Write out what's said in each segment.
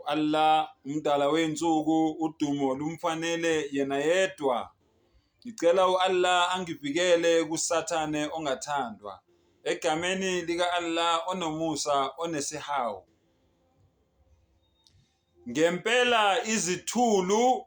U-Allah, umdala wey'nsuku, udumo lumfanele yena yedwa. Ngicela u-Allah angivikele kusathane ongathandwa. Egameni lika-Allah onomusa onesihawu. Ngempela izithulu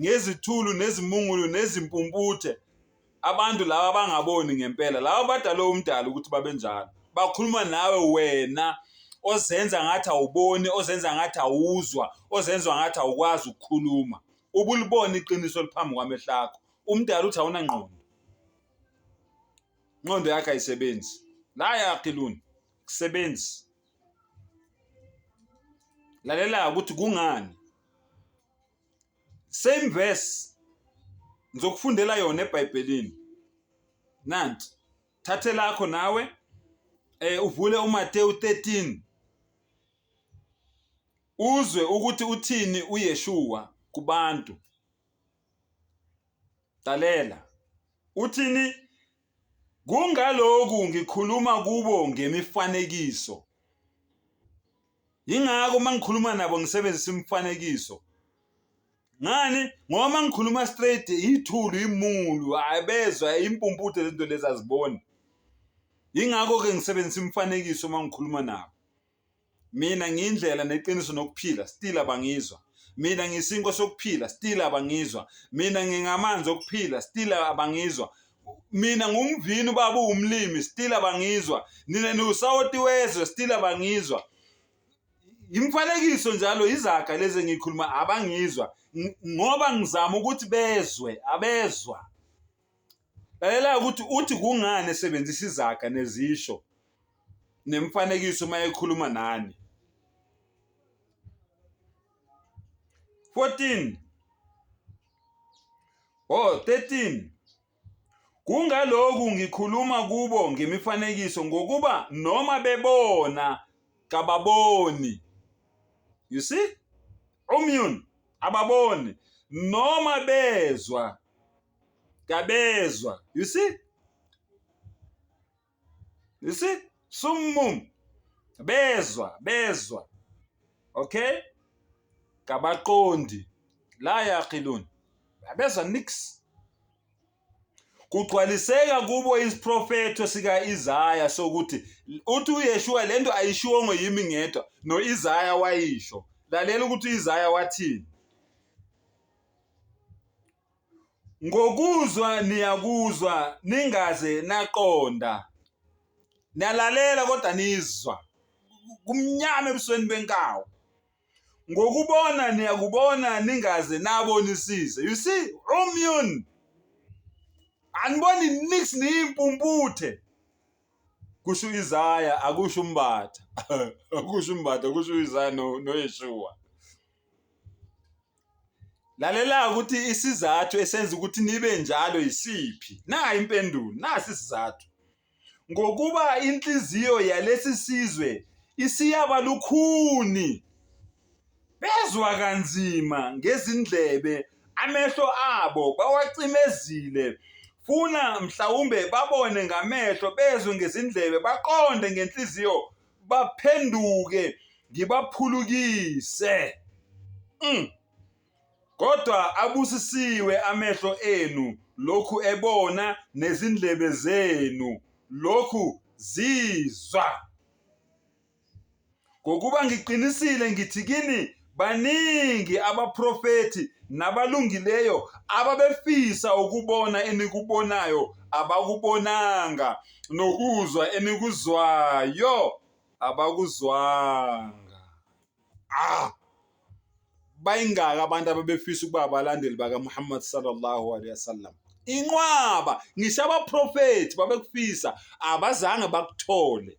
ngezithulu nezimungulu nezimpumputhe abantu laba abangaboni ngempela laba badalwe umdala ukuthi babenjalo bakhuluma nawe wena ozenza ngathi awuboni ozenza ngathi awuzwa ozenza ngathi awukwazi ukukhuluma ubulibona iqiniso liphambi kwamehlo akho umdala uthi awunangqondo inqondo yakhe ayisebenzi la yakhe luni kusebenzi lalela ukuthi kungani same verse ngizokufundela yona eBhayibhelini nanti thathe lakho nawe eh uvule uMateyu 13 uzwe ukuthi uthini uYeshua kubantu talela uthini Kungalokhu ngikhuluma kubo ngemifanekiso. Yingakho uma ngikhuluma nabo ngisebenzisa imifanekiso. Ngani? Ngoba uma ngikhuluma straight ithulu imulu abezwa impumputhe lento lezi aziboni. Yingakho ke ngisebenzisa imifanekiso uma ngikhuluma nabo. mina ngiyindlela neqiniso nokuphila still abangizwa mina ngisinko sokuphila still abangizwa mina ngingamanzi okuphila still abangizwa mina ngumvini ubaba uwumlimi still abangizwa nina niwusawoti wezwe still abangizwa imfanekiso njalo izaga lezi engikhuluma abangizwa ngoba ngizama ukuthi bezwe abezwa Lalela ukuthi uthi kungani esebenzisa izaga nezisho nemifanekiso uma ekhuluma nani. 14 Oh 13 Kungaloku ngikhuluma kubo ngemifanekiso ngokuba noma bebona kababoni. You see? Umyun ababoni noma bezwa kabezwa you see you see summum bezwa bezwa okay kabaqondi la yaqilun abezwa nix kugcwaliseka kubo isiprofetho sika-Isaya sokuthi uthi uYeshua lento ayishiwongo yimi ngedwa no-Isaya wayisho lalela ukuthi u-Isaya wathini Ngokuzwa niyakuzwa ningaze naqonda. Niyalalela kodwa nizwa. Kumnyama ebusweni benkawu. Ngokubona niyakubona ningaze nabonisise. You see, umyun. Aniboni nix niyimpumputhe. Kusho Isaya akusho umbatha. Akusho umbatha kusho Isaya no Yeshua. Lalela ukuthi isizathu esenza ukuthi nibe njalo yisiphi. Nayi impendulo, nasi isizathu. Ngokuba inhliziyo yalesi sizwe isiyaba lukhuni. Bezwa kanzima ngezindlebe, amehlo abo bawacimezile. Funa mhlawumbe babone ngamehlo, bezwe ngezindlebe, baqonde ngenhliziyo baphenduke ngibaphulukise mm. kodwa abusisiwe amehlo enu lokhu ebona nezindlebe zenu lokhu zizwa ngokuba ngiqinisile ngithi kini Baningi abaprofethi nabalungileyo ababefisa ukubona enikubonayo abakubonanga, nokuzwa enikuzwayo abakuzwanga. Ah! Bayingaka abantu ababefisa ukuba abalandeli bakaMuhammad sallallahu alaihi wasallam. Inqwaba ngisho abaprofethi babekufisa abazange bakuthole.